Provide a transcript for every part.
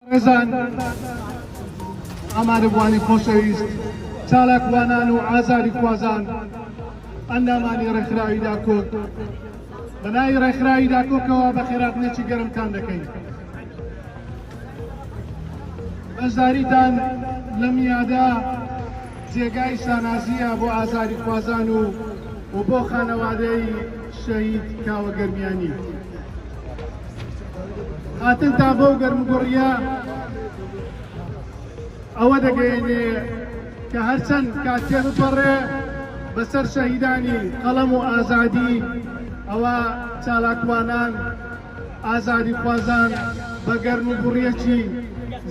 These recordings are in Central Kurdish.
بەڕێزان ئامادەبووانی خۆشەویست، چالاکوانان و ئازادیخوازان، ئەندامانی ڕێکخراوی داکۆک، بە ناوی ڕێکخراوی داکۆکەوە بەخێراتنێکی گەرمتان دەکەین. بەشداریتان لەم یادە جێگای شانازییە بۆ ئازادیخوازان و و بۆ خانەوادەی شەهید کاوە گەرمیانی. هاتنتان بەو گەرمگوڕیە ئەوە دەگەێنێ کە هەرچەند کاتێ بپەڕێ بەسەر شەهیدانی قەڵەم و ئازادی ئەوە چالاکوانان ئازادی خوازان بە گەرم و گوڕیەکی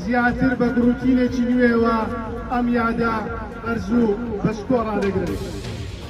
زیاتر بە گڕوتینێکی نوێوە ئەم یادە ئەرزوو بەشکۆڕا دەگرن.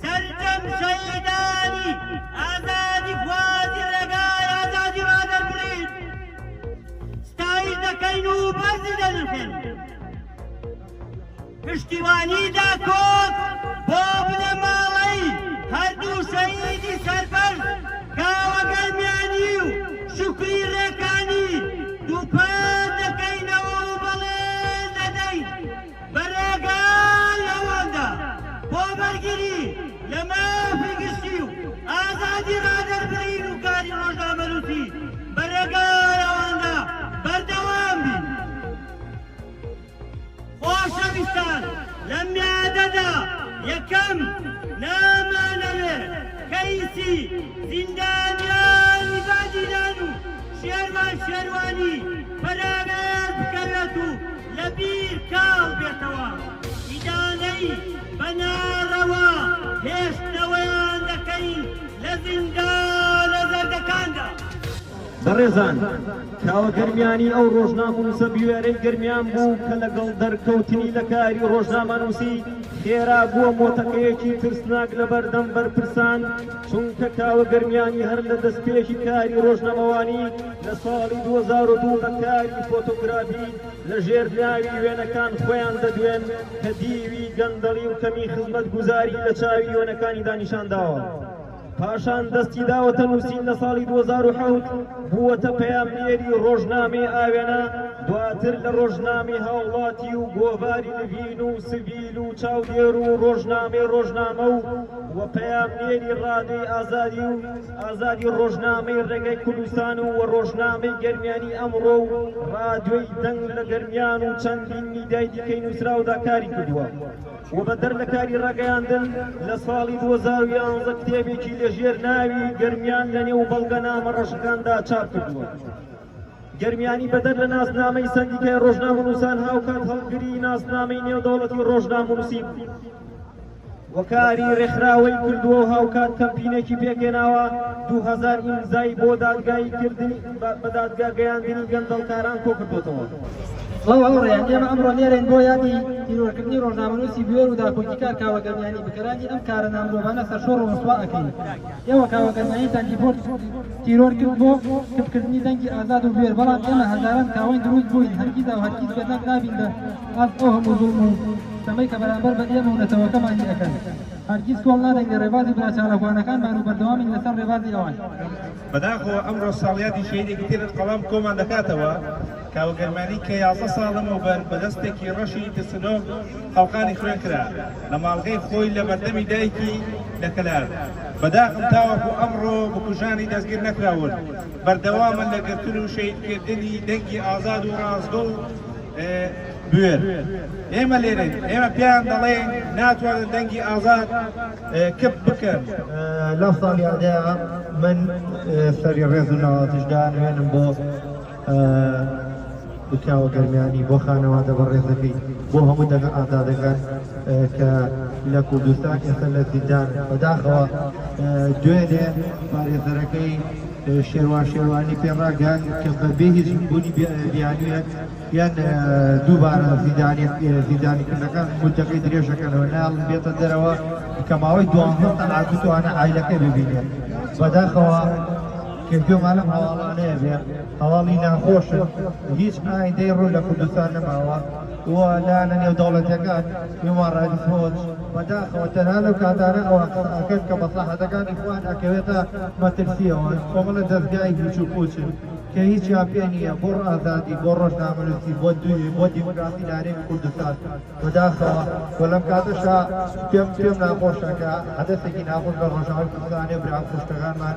سەرجەم شەهیدانی ئازادیخوازی ڕێگای ئازادی ڕادەربڕین ستایش دەکەین و بەرزی دەنرخێن پشتیوانی داکۆک بۆ بنەماڵەی هەردوو شەهیدی سەربەرز کاوە گەرمیانی و شوکری ڕێکانی دووپات بە ڕێگا لەواندا بۆ بەرگری لە مافی گشتی و ئازادی ڕادەربڕین و کاری ڕۆژنامەنووسی بە ڕێگا لەواندا بەردەوام بین. خۆشەویستان لەم میادەدا یەکەم نامانەوێ کەیسی زیندانیانی بادینان و شێروان شێروانی پەراوێز بکەوێت و لەبیر کاڵ بێتەوە ئیدانەی بە نارەوا هێشتنەوەیان دەکەین لە زیندانە زەردەکاندا. بەڕێزان کاوە گەرمیانی ئەو ڕۆژنامەنووسە بوێرەی گەرمیان بوو کە لەگەڵ دەرکەوتنی لە کاری ڕۆژنامەنووسی خێرا بووە مۆتەکەیەکی ترسناک لەبەردەم بەرپرسان چونکە کاوە گەرمیانی هەر لە دەستپێکی کاری ڕۆژنەمەوانی لە ساڵی دوو هەزار و دوو بە کاری فۆتۆگرافی لە ژێر ناوی وێنەکان خۆیان دەدوێن کە دیوی گەندەڵی و کەمی خزمەتگوزاری لە چاوی وێنەکانیدا نیشان داوە. پاشان دەستی داوەتە نووسین لە ساڵی دوو هەزار و حەوت بووەتە پەیامنێری ڕۆژنامەی ئاوێنە، دواتر لە ڕۆژنامەی هاوڵاتی و گۆڤاری نڤین و سڤیل و چاودێر و ڕۆژنامەی ڕۆژنامە و و پەیامنێری ڕادیۆی ئازادی و ئازادی ڕۆژنامەی ڕێگای کوردستان و ڕۆژنامەی گەرمیانی ئەمڕۆ و ڕادیۆی دەنگ لە گەرمیان و چەندین میدیای دیکەی نووسراودا کاری کردووە و بەدەر لە کاری ڕاگەیاندن لە ساڵی دوو هەزار و یانزە کتێبێکی لەژێر ناوی گەرمیان لەنێو بەڵگەنامە ڕەشەکاندا چاپ کردووە. گەرمیانی بەدەر لە ناسنامەی سەندیکای ڕۆژنامەنووسان هاوکات هەڵگری ناسنامەی نێودەوڵەتی ڕۆژنامەنووسین و کاری ڕێکخراوەی کردووە و هاوکات کەمپینێکی پێکهێناوە دوو هەزار ئیمزای بۆ دادگایی کردنی بە دادگا گەیاندنی گەندەڵکاران کۆکردووەتەوە. سڵاو هاوڕێیان ئێمە ئەمڕۆ لێرەین بۆ یادی تیرۆرکردنی ڕۆژنامەنووسی بوێر و داکۆکیکار کاوە گەرمیانی بکەرانی ئەم کارە نامرۆڤانە سەرشۆڕ و ڕسوا ئەکەین ئێوە کاوە گەرمیانیتان دیپۆرت تیرۆر کرد بۆ کپ کردنی دەنگی ئازاد و بوێر بەڵام ئێمە هەزاران کاوەین دروست بووین هەرگیزا و هەرگیز بێدەنگ نابین بە ئاست ئەو هەموو زوڵم و ستەمەی کە بەرامبەر بە ئێمە و نەتەوەکەمان ی ئەکەن هەرگیز کۆڵ نادەین لە ڕێبازی برا چالاکوانەکانمان و بەردەوامین لەسەر ڕێبازی ئەوان. بەداخەوە ئەمڕۆ ساڵیادی شەهیدێکی تر قەڵەم کۆمان دەکاتەوە. کاوە گەرمانی کە یازدە ساڵ لەمەوبەر بە دەستێکی ڕەشی ترسنۆک خەڵقانی خوێن کرا لە ماڵگەی خۆی لە بەردەمی دایکی لە کەلار بە داخم تاوەکو ئەمڕۆ بکوژانی دەستگیر نەکراون بەردەوامن لە گرتن و شەهید کردنی دەنگی ئازاد و ڕاستگۆ و بوێر ئێمە لێرەین ئێمە پێیان دەڵێن ناتوانن دەنگی ئازاد کپ بکەن لەو ساڵیادەیە من سەری ڕێز و ناوازیشدا نوێنم بۆ بکاوە گەرمیانی بۆ خانەوادە بەڕێزەکەی بۆ هەموو دەنگە ئازادەکان کە لە کوردستان ئێستا لە زیندان بەداخەوە دوێنێ پارێزەرەکەی شێوان شێوانی پێڕاگەن کە بە بێ هیچ بوونی بیانویەک یان دووبارە زیدانی زیدانیکردەکان مدەکەی درێژەکەنەوە ناڵم بێتە دەرەوە کە ماوەی دوانزە سەعات بتوانە ئایلەکەی ببینێت بەداخەوە کە گوێمان لەم هەواڵانەیە بێ، هەواڵی ناخۆشن، هیچ ئایندەی ڕوون لە کوردستان نەماوە و لایەنە نێودەوڵەتییەکان، هیومان ڕایتس وۆچ، بەداخەوە تەنها لەو کاتانە ئەوان قسە ئەکەن کە مەسڵەحەتەکانی خوان ئەکەوێتە مەترسی، ئەوان کۆمەڵە دەزگای هیچ و پووچن کە هیچیان پێ نییە بۆ ئازادی، بۆ ڕۆژنامەنووسی، بۆ دووی، بۆ دیموکراسی لە هەرێمی کوردستان بەداخەوە و لەم کاتەشا پێم پێم ناخۆشە کە حەدەسێکی ناخۆش لە ڕۆژاوای کوردستان هەیە و برا و خوشکەکانمان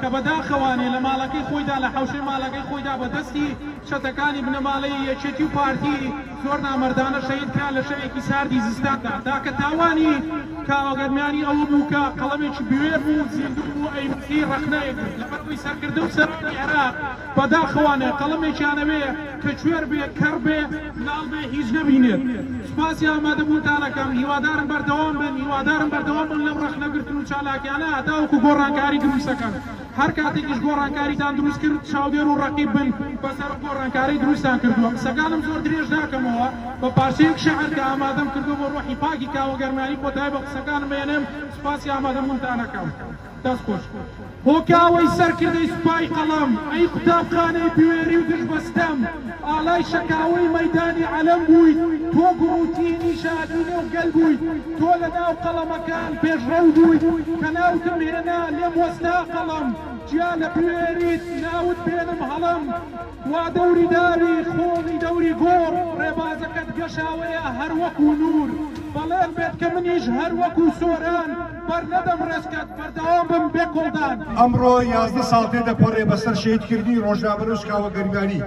کە بەداخەوە نی لە ماڵەکەی خۆیدا لە حەوشەی ماڵەکەی خۆیدا بە دەستی چەتەکانی بنەماڵەی یەکێتی و پارتی زۆر نامەردانە شەهید کرا لە شەوێکی ساردی زستاندا تاکە تاوانی کاوە گەرمیانی ئەوە بوو کە قەڵەمێکی بوێر بوو و زیندوو بوو ئەیویستی ڕەخنەیەک بێت لەبەر ئەوەی سەرکردە و سەرانی عێراق بەداخەوانە قەڵەمێکیانەوێ کە کوێر بێ کەڕ بێ لاڵ بێ هیچ نەبینێت سوپاسی ئامادە بوونتان ئەکەم هیوادارم بەردەوام بن هیوادارم بەردەوام بن لەم ڕەخنە گرتن و چالاکیانە هەتاوەکو گۆڕانکاری دروست ئەکەن هەر کاتێکیش گۆڕانکاریتان دروست کرد چاودێر و ڕەقیب بن بەسەر ئەو گۆڕانکارەی دروستتان کردووە قسەکانم زۆر درێژ ناکەمەوە بە پارچەیەک شعر کە ئامادەم کردووە بۆ ڕۆحی پاکی کاوە گەرمیانی کۆتایی بە قسەکانم ئەێنێم سوپاسی ئامادە بوونتان ئەکەم. دەست خۆش. هۆکاوەی سەرکردەی سوپای قەڵەم ئەی قوتابخانەی بوێری و دژ بە ستەم ئالای شەکاوەی مەیدانی عەلەم بوویت تۆ گوڕوتیی نیژادی نێو گەل بوویت تۆ لە ناو قەڵەمەکان پێشڕەو بوویت کە ناوتم هێنا لێم وەستا قەڵەم جیا لە بوێریت ناوت بێنم هەڵەم وا دەوری داوی خۆڵی دەوری گۆڕ ڕێبازەکەت گەشاوەیە هەر وەکوو نوور بەڵێن بێت کە منیش هەر وەکوو سۆران بەر نەدەم ڕێزکەت بەردەوام بم بێ کۆڵدان. ئەمڕۆ یازدە ساڵ تێدەپەڕێ بەسەر شەهیدکردنی ڕۆژنامە نووس کاوە گەریبانی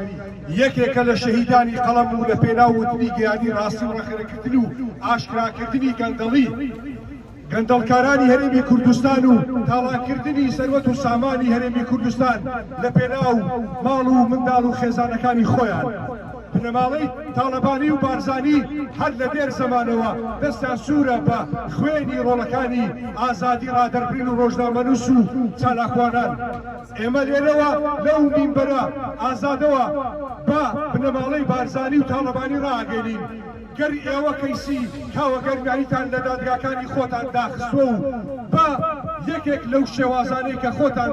یەکێکە لە شەهیدانی قەڵەم و لە پێناو وتنی گەیانی ڕاستی و ڕەخنەگرتن و ئاشکراکردنی گەندەڵی گەندەڵکارانی هەرێمی کوردستان و تاڵانکردنی سەروەت و سامانی هەرێمی کوردستان لە پێناو ماڵ و منداڵ و خێزانەکانی خۆیان. بنەماڵەی تاڵەبانی و بارزانی هەر لە دێر زەمانەوە دەستیان سوورە بە خوێنی ڕۆڵەکانی ئازادی ڕادەربرین و ڕۆژنامەنووس و چالاکوانان. ئێمە لێرەوە لەو مینبەرە ئازادەوە بە بنەماڵەی بارزانی و تاڵەبانی ڕائەگەینین، گەر ئێوە کەیسی کاوەگەرمیانیتان لە دادگاکانی خۆتان داخستوە و بە یەکێک لەو شێوازانەی کە خۆتان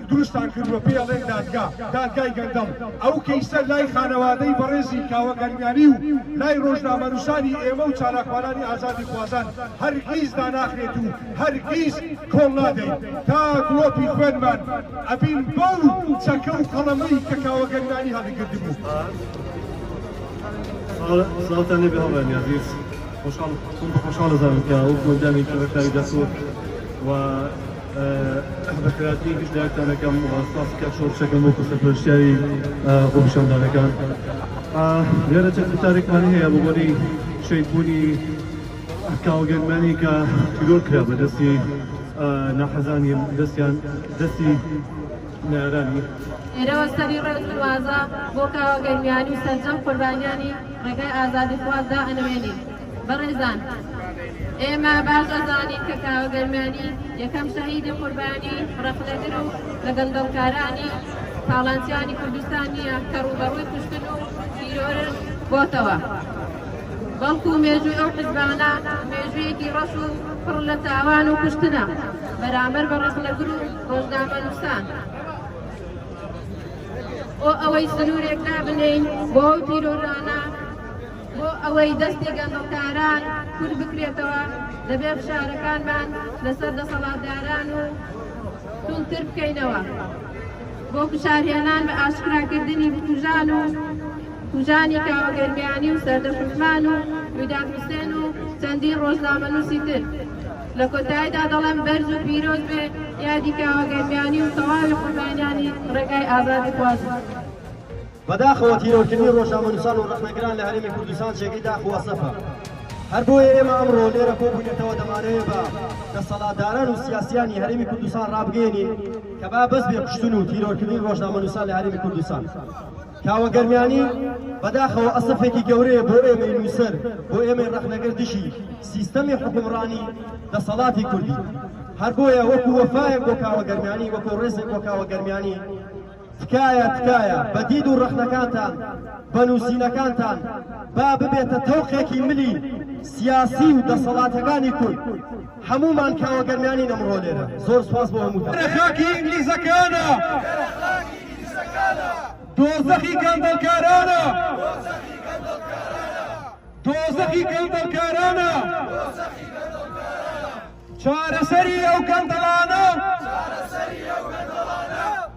دروستان کردوە پێی ئەڵێن دادگا، دادگای گەندەڵ، ئەو کەیسە لای خانەوادەی بەڕێزی کاوە گەرمیانی و لای ڕۆژنامەنوسانی ئێمە و چالاکوانانی ئازادی خوازان هەرگیز داناخرێت و هەرگیز کۆڵ نادەین تا دڵۆپی خوێنمان ئەبین بەو چەکە و قەڵەمەی کە کاوە گەرمیانی هەڵیگردبوو. سڵاوتان لێبێ هاوڕێیانی ئازیز خۆشحاڵ خۆم بە خۆشحاڵ دەزانم کە وەکو ئەندامێکی ڕێکخراوی دەستور و بە خراپی گشت لایەکتان دەکەم و سپاسی کاک شۆڕش دەکەم وەکو سەرپەرشتیاری خۆپیشاندانەکان لێرە چەند گوتارێکمان هەیە بۆ بۆنەی شەیدبوونی کاوەگەرمانی کە تیرۆر کرا بە دەستی ناحەزانی دەستیان دەستی لێرەوە سەری ڕێز و وازە بۆ کاوە گەرمیانی و سەرجەم قوربانیانی ڕێگای ئازادیخواز دائەنەوێنین. بەڕێزان ئێمە باش ئەزانین کە کاوە گەرمیانی یەکەم شەهیدی قوربانی ڕەخنەگر و لە گەندەڵکارانی تاڵانچیانی کوردستان نییە کە ڕووبەڕووی کوشتن و تیرۆرش بۆتەوە، بەڵکو مێژووی ئەو حزبانە مێژوویەکی ڕەش و پڕ لە تاوان و کوشتنە بەرامبەر بە ڕەخنەگر و ڕۆژنامەنووسان بۆ ئەوەی سنوورێک دابنێین بۆ ئەو تیرۆرانە بۆ ئەوەی دەستی گەندەڵکاران کورت بکرێتەوە دەبێت فشارەکانمان لەسەر دەسەڵاتداران و توندتر بکەینەوە بۆ فشارهێنان بە ئاشکراکردنی بکوژان و کوژانی کاوەگەرمیانی و سەردەشتمان و ویداد حوسێن و چەندین ڕۆژنامەنووسی تر لە کۆتاییدا دەڵێم بەرز و پیرۆز بێ یادی کاوە گەرمیانی و تەواوی قوربانیانی ڕێگای ئازادی خوازی. بەداخەوە تیرۆرکردنی ڕۆژنامەنووسان و ڕەخنەگران لە هەرێمی کوردستان جێگەی داخ و ئەسەفە، هەر بۆیە ئێمە ئەمڕۆ لێرە کۆبووینەتەوە دەمانەوێ بە دەسەڵاتداران و سیاسییانی هەرێمی کوردستان ڕابگەیەنین کە با بەس بێ کوشتن و تیرۆرکردنی ڕۆژنامەنووسان لە هەرێمی کوردستان. کاوە گەرمیانی، بەداخەوە ئەسەفێکی گەورەیە بۆ ئێمەی نووسەر، بۆ ئێمەی ڕەخنەگر دژی سیستەمی حوکمڕانی دەسەڵاتی کوردی. هەر بۆیە وەکو وەفایەک بۆ کاوە گەرمیانی، وەکو ڕێزێک بۆ کاوە گەرمیانی، تکایە تکایە بە دید و ڕەخنەکانتان، بە نووسینەکانتان با ببێتە تەوقێکی ملی سیاسی و دەسەڵاتەکانی کورد. هەموومان کاوە گەرمیانین ئەمڕۆ لێرە زۆر سوپاس بۆ هەمووتان. ئێرە خاکی ئینگلیزەکانە. ئێرە خاکی ئینگلیزەکانە. دۆزەخی گەندەڵکارانە. دۆزەخی گەندەڵکارانە. دۆزەخی گەندەڵکارانە. دۆزەخی گەندەڵکارانە. چارەسەری ئەو گەندەڵانە. چارەسەری ئەو گەندەڵانە.